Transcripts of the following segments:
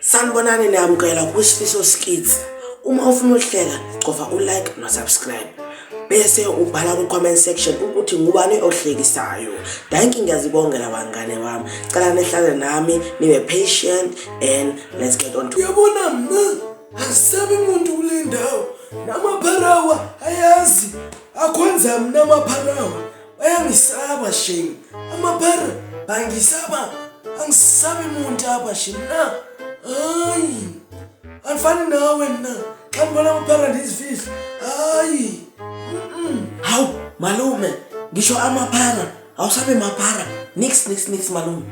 sanibonani niyamukela kwisifiso skits uma ufuna ukuhleka gcova ulike nosubscribe bese ubhala ku-comment section ukuthi ngubani ohlekisayo danki ngiyazibongela bangane bami cela nehlale nami nibe patient and let's get on to uyabona mna angisabi muntu kule ndawo namapharawa ayazi akhonza mna amapharawa bayangisaba shame amapere bangisaba angisabi muntu apha shame na hayi andifani nawe mna xa ndibona amapere ndizifihla hayi hawu malume ngisho amapara awusabe mapara nix nix nix malume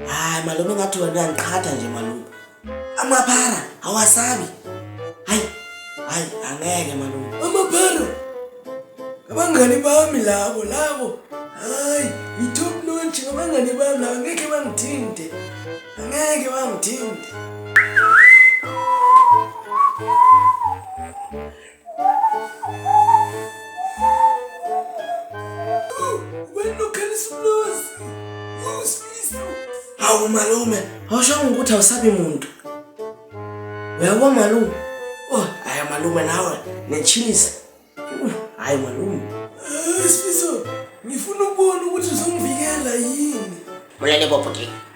hayi malume ngathi wena uyangiqhatha nje malume Amaphara awasabi. Hayi. Hayi angeke malume. Amaphara. Abangani bami labo labo. Hayi, i-top notch abangani bami labo ngeke bangithinte. Angeke bangithinte. Hawu malume, awushongo ukuthi awusabi muntu. Uyabo malume? Oh, hayi malume nawe, nechilisa. Hayi malume. Sifiso, ngifuna ukubona ukuthi uzongivikela yini. Mulale bopho ke.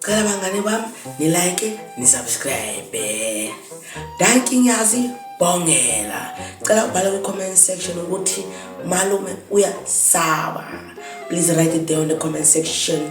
cela bangane bami nilike nisubscribe danki ngiyazi bongela cela ubhale kwi-comment section ukuthi malume uyasaba please write it down in the comment section